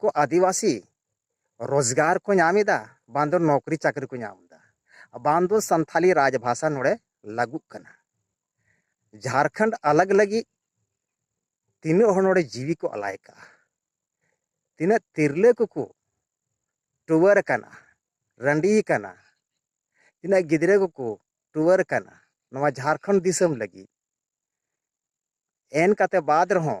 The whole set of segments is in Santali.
ᱠᱚ ᱟᱹᱫᱤᱵᱟᱹᱥᱤ ᱨᱳᱡᱽᱜᱟᱨ ᱠᱚ ᱧᱟᱢ ᱮᱫᱟ ᱵᱟᱝ ᱫᱚ ᱱᱚᱠᱨᱤ ᱪᱟᱹᱠᱨᱤ ᱠᱚ ᱧᱟᱢ ᱮᱫᱟ ᱵᱟᱝ ᱫᱚ ᱥᱟᱱᱛᱷᱟᱞᱤ ᱨᱟᱡᱽ ᱵᱷᱟᱥᱟ ᱱᱚᱰᱮ ᱞᱟᱹᱜᱩᱜ ᱠᱟᱱᱟ ᱡᱷᱟᱲᱠᱷᱚᱸᱰ ᱟᱞᱟᱜᱽ ᱞᱟᱹᱜᱤᱫ ᱛᱤᱱᱟᱹᱜ ᱦᱚᱲ ᱱᱚᱰᱮ ᱡᱤᱣᱤ ᱠᱚ ᱟᱞᱟᱭ ᱠᱟᱜᱼᱟ ᱛᱤᱱᱟᱹᱜ ᱛᱤᱨᱞᱟᱹ ᱠᱚᱠᱚ ᱴᱩᱣᱟᱹᱨ ᱟᱠᱟᱱᱟ ᱨᱟᱺᱰᱤ ᱟᱠᱟᱱᱟ ᱛᱤᱱᱟᱹᱜ ᱜᱤᱫᱽᱨᱟᱹ ᱠᱚᱠᱚ ᱴᱩᱣᱟᱹᱨ ᱟᱠᱟᱱᱟ ᱱᱚᱣᱟ ᱡᱷᱟᱲᱠᱷᱚᱸᱰ ᱫᱤᱥᱚᱢ ᱞᱟᱹᱜᱤᱫ ᱮᱱ ᱠᱟᱛᱮ ᱵᱟᱫ ᱨᱮᱦᱚᱸ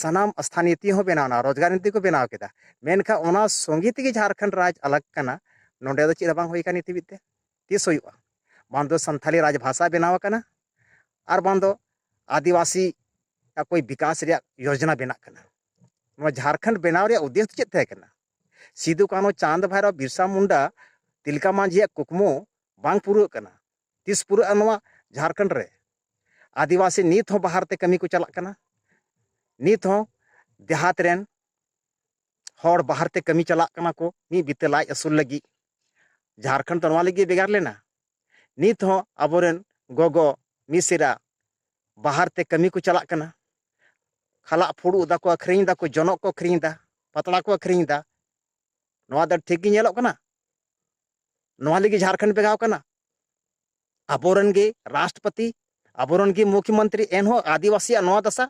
ᱥᱟᱱᱟᱢ ᱥᱛᱷᱟᱱᱤᱛᱤ ᱦᱚᱸ ᱵᱮᱱᱟᱣ ᱮᱱᱟ ᱨᱳᱡᱽᱜᱟᱨ ᱱᱤᱛᱤ ᱠᱚ ᱵᱮᱱᱟᱣ ᱠᱮᱫᱟ ᱢᱮᱱᱠᱷᱟᱱ ᱚᱱᱟ ᱥᱚᱸᱜᱮ ᱛᱮᱜᱮ ᱡᱷᱟᱨᱠᱷᱚᱸᱰ ᱨᱟᱡᱽ ᱟᱞᱟᱜᱽ ᱠᱟᱱᱟ ᱱᱚᱰᱮ ᱫᱚ ᱪᱮᱫ ᱦᱚᱸ ᱵᱟᱝ ᱦᱩᱭ ᱟᱠᱟᱱᱟ ᱱᱤᱛ ᱦᱟᱹᱵᱤᱡ ᱛᱮ ᱛᱤᱥ ᱦᱩᱭᱩᱜᱼᱟ ᱵᱟᱝ ᱫᱚ ᱥᱟᱱᱛᱷᱟᱞᱤ ᱨᱟᱡᱽ ᱵᱷᱟᱥᱟ ᱵᱮᱱᱟᱣ ᱟᱠᱟᱱᱟ ᱟᱨ ᱵᱟᱝ ᱫᱚ ᱟᱹᱫᱤᱵᱟᱹᱥᱤ ᱚᱠᱚᱭ ᱵᱤᱠᱟᱥ ᱨᱮᱭᱟᱜ ᱭᱳᱡᱚᱱᱟ ᱵᱮᱱᱟᱜ ᱠᱟᱱᱟ ᱱᱚᱣᱟ ᱡᱷᱟᱨᱠᱷᱚᱸᱰ ᱵᱮᱱᱟᱣ ᱨᱮᱭᱟᱜ ᱩᱫᱽᱫᱮᱥ ᱫᱚ ᱪᱮᱫ ᱛᱟᱦᱮᱸ ᱠᱟᱱᱟ ᱥᱤᱫᱩ ᱠᱟᱹᱱᱦᱩ ᱪᱟᱸᱫᱽ ᱵᱷᱟᱭᱨᱚ ᱵᱤᱨᱥᱟ ᱢᱩᱱᱰᱟ ᱛᱤᱞᱠᱟ ᱢᱟᱹᱡᱷᱤᱭᱟᱜ ᱠᱩᱠᱢᱩ ᱵᱟᱝ ᱯᱩᱨᱟᱹᱜ ᱠᱟᱱᱟ ᱛᱤᱥ ᱯᱩᱨᱟᱹᱜᱼᱟ ᱱᱚᱣᱟ ᱡᱷᱟᱨᱠᱷᱚᱸᱰ ᱨᱮ ᱟᱹᱫᱤᱵᱟᱹᱥᱤ ᱱᱤᱛ ᱦᱚᱸ ᱵᱟᱦᱟᱨ ᱛᱮ ᱠᱟᱹᱢᱤ ᱠᱚ ᱪᱟᱞᱟᱜ ᱠᱟᱱᱟ ᱱᱤᱛ ᱦᱚᱸ ᱫᱮᱦᱟᱛ ᱨᱮᱱ ᱦᱚᱲ ᱵᱟᱦᱟᱨ ᱛᱮ ᱠᱟᱹᱢᱤ ᱪᱟᱞᱟᱜ ᱠᱟᱱᱟ ᱠᱚ ᱢᱤᱫ ᱵᱤᱛᱟᱹ ᱞᱟᱡ ᱟᱹᱥᱩᱞ ᱞᱟᱹᱜᱤᱫ ᱡᱷᱟᱨᱠᱷᱚᱸᱰ ᱫᱚ ᱱᱚᱣᱟ ᱞᱟᱹᱜᱤᱫ ᱵᱷᱮᱜᱟᱨ ᱞᱮᱱᱟ ᱱᱤᱛ ᱦᱚᱸ ᱟᱵᱚᱨᱮᱱ ᱜᱚᱜᱚ ᱢᱤᱥᱨᱟ ᱵᱟᱦᱟᱨ ᱛᱮ ᱠᱟᱹᱢᱤ ᱠᱚ ᱪᱟᱞᱟᱜ ᱠᱟᱱᱟ ᱠᱷᱟᱞᱟᱜ ᱯᱷᱩᱲᱩᱜ ᱫᱟᱠᱚ ᱟᱹᱠᱷᱨᱤᱧ ᱫᱟᱠᱚ ᱡᱚᱱᱚᱜ ᱠᱚ ᱟᱹᱠᱷᱨᱤᱧ ᱫᱟ ᱯᱟᱛᱲᱟ ᱠᱚ ᱟᱹᱠᱷᱨᱤᱧ ᱫᱟ ᱱᱚᱣᱟ ᱫᱚ ᱴᱷᱤᱠ ᱜᱮ ᱧᱮᱞᱚᱜ ᱠᱟᱱᱟ ᱱᱚᱣᱟ ᱞᱟᱹᱜᱤᱫ ᱡᱷᱟᱲᱠᱷᱚᱸᱰ ᱵᱮᱜᱟᱣ ᱠᱟᱱᱟ ᱟᱵᱚᱨᱮᱱ ᱜᱮ ᱨᱟᱥᱴᱨᱚᱯᱚᱛᱤ ᱟᱵᱚᱨᱮᱱ ᱜᱮ ᱢᱩᱠᱷᱭᱚᱢᱚᱱᱛᱨᱤ ᱮᱱᱦᱚᱸ ᱟᱹᱫᱤᱵᱟᱹᱥᱤᱭᱟᱜ ᱱᱚᱣᱟ ᱫᱟᱥᱟ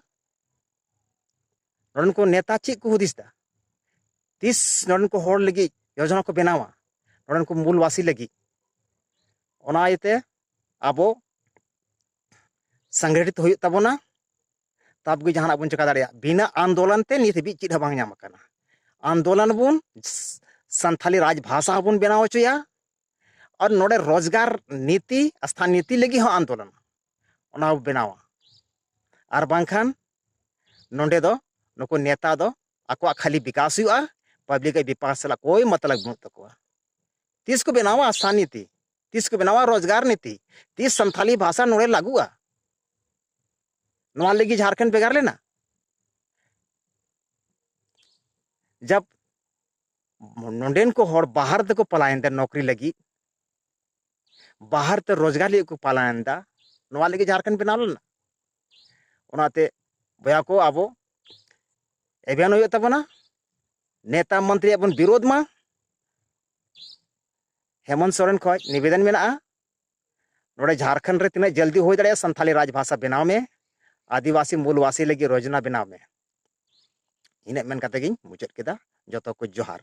ᱱᱚᱰᱮᱱ ᱠᱚ ᱱᱮᱛᱟ ᱪᱮᱫ ᱠᱚ ᱦᱩᱫᱤᱥ ᱫᱟ ᱛᱤᱥ ᱱᱚᱰᱮᱱ ᱠᱚ ᱦᱚᱲ ᱞᱟᱹᱜᱤᱫ ᱡᱳᱡᱚᱱᱟ ᱠᱚ ᱵᱮᱱᱟᱣᱟ ᱱᱚᱰᱮᱱ ᱠᱚ ᱢᱩᱞᱵᱟᱥᱤ ᱞᱟᱹᱜᱤᱫ ᱚᱱᱟ ᱤᱭᱟᱹᱛᱮ ᱟᱵᱚ ᱥᱚᱝᱜᱷᱚᱴᱤᱛ ᱦᱩᱭᱩᱜ ᱛᱟᱵᱚᱱᱟ ᱛᱟᱵ ᱜᱮ ᱡᱟᱦᱟᱱᱟᱜ ᱵᱚᱱ ᱪᱮᱠᱟ ᱫᱟᱲᱮᱭᱟᱜᱼᱟ ᱵᱤᱱᱟᱹ ᱟᱱᱫᱳᱞᱚᱱ ᱛᱮ ᱱᱤᱛ ᱦᱟᱹᱵᱤᱡ ᱪᱮᱫ ᱦᱚᱸ ᱵᱟᱝ ᱧᱟᱢ ᱟᱠᱟᱱᱟ ᱟᱱᱫᱳᱞᱚᱱ ᱵᱚᱱ ᱥᱟᱱᱛᱷᱟᱞᱤ ᱨᱟᱡᱽ ᱵᱷᱟᱥᱟ ᱦᱚᱸᱵᱚᱱ ᱵᱮᱱᱟᱣ ᱦᱚᱪᱚᱭᱟ ᱟᱨ ᱱᱚᱰᱮ ᱨᱳᱡᱽᱜᱟᱨ ᱱᱤᱛᱤ ᱥᱛᱷᱟᱱ ᱱᱤᱛᱤ ᱞᱟᱹᱜᱤᱫ ᱦᱚᱸ ᱟᱱᱫᱳᱞᱚᱱ ᱚᱱᱟ ᱵᱚ ᱵᱮᱱᱟᱣᱟ ᱟᱨ ᱵᱟᱝᱠᱷᱟᱱ ᱱᱚᱰᱮ ᱫᱚ ᱱᱩᱠᱩ ᱱᱮᱛᱟ ᱫᱚ ᱟᱠᱚᱣᱟᱜ ᱠᱷᱟᱹᱞᱤ ᱵᱤᱠᱟᱥ ᱦᱩᱭᱩᱜᱼᱟ ᱯᱟᱵᱽᱞᱤᱠ ᱟᱜ ᱵᱤᱯᱟᱥ ᱥᱟᱞᱟᱜ ᱠᱳᱭ ᱢᱚᱛᱞᱚᱵ ᱵᱟᱹᱱᱩᱜ ᱛᱟᱠᱚᱣᱟ ᱛᱤᱥ ᱠᱚ ᱵᱮᱱᱟᱣᱟ ᱥᱛᱷᱟᱱ ᱱᱤᱛᱤ ᱛᱤᱥ ᱠᱚ ᱵᱮᱱᱟᱣᱟ ᱨᱳᱡᱽᱜᱟᱨ ᱱᱤᱛᱤ ᱛᱤᱥ ᱥᱟᱱᱛᱷᱟᱞᱤ ᱵᱷᱟᱥᱟ ᱱᱚᱰᱮ ᱞᱟᱹᱜᱩᱜᱼᱟ ᱱᱚᱣᱟ ᱞᱟᱹᱜᱤᱫ ᱡᱷᱟᱲᱠᱷᱚᱸᱰ ᱵᱷᱮᱜᱟᱨ ᱞᱮᱱᱟ ᱡᱟᱵ ᱱᱚᱰᱮᱱ ᱠᱚ ᱦᱚᱲ ᱵᱟᱦᱟᱨ ᱛᱮᱠᱚ ᱯᱟᱞᱟᱭᱮᱱ ᱛᱮ ᱱᱚᱠᱨᱤ ᱞᱟᱹᱜᱤᱫ ᱵᱟᱦᱟᱨ ᱛᱮ ᱨᱳᱡᱽᱜᱟᱨ ᱞᱟᱹᱜᱤᱫ ᱠᱚ ᱯᱟᱞᱟᱭᱮᱱ ᱫᱟ ᱱᱚᱣᱟ ᱞᱟᱹᱜᱤᱫ ᱡᱷᱟᱲᱠᱷᱚᱸᱰ ᱵᱮᱱᱟᱣ ᱞᱮᱱᱟ ᱚᱱᱟᱛᱮ ᱵᱚᱭᱟ ᱠᱚ ᱟᱵᱚ ᱮᱵᱷᱮᱱ ᱦᱩᱭᱩᱜ ᱛᱟᱵᱚᱱᱟ ᱱᱮᱛᱟ ᱢᱚᱱᱛᱨᱤᱭᱟᱜ ᱵᱚᱱ ᱵᱤᱨᱳᱫᱷ ᱢᱟ ᱦᱮᱢᱚᱱᱛ ᱥᱚᱨᱮᱱ ᱠᱷᱚᱡ ᱱᱤᱵᱮᱫᱚᱱ ᱢᱮᱱᱟᱜᱼᱟ ᱱᱚᱰᱮ ᱡᱷᱟᱨᱠᱷᱚᱸᱰ ᱨᱮ ᱛᱤᱱᱟᱹᱜ ᱡᱚᱞᱫᱤ ᱦᱩᱭ ᱫᱟᱲᱮᱭᱟᱜᱼᱟ ᱥᱟᱱᱛᱷᱟᱞᱤ ᱨᱟᱡᱽ ᱵᱷᱟᱥᱟ ᱵᱮᱱᱟᱣ ᱢᱮ ᱟᱹᱫᱤᱵᱟᱹᱥᱤ ᱢᱩᱞᱵᱟᱹᱥᱤ ᱞᱟᱹᱜᱤᱫ ᱨᱳᱡᱽᱱᱟ ᱵᱮᱱᱟᱣ ᱢᱮ ᱤᱱᱟᱹᱜ ᱢᱮᱱ ᱠᱟᱛᱮ ᱜᱤᱧ ᱢᱩᱪᱟᱹᱫ ᱠᱮᱫᱟ ᱡᱚᱛᱚ ᱠᱚ ᱡᱚᱦᱟᱨ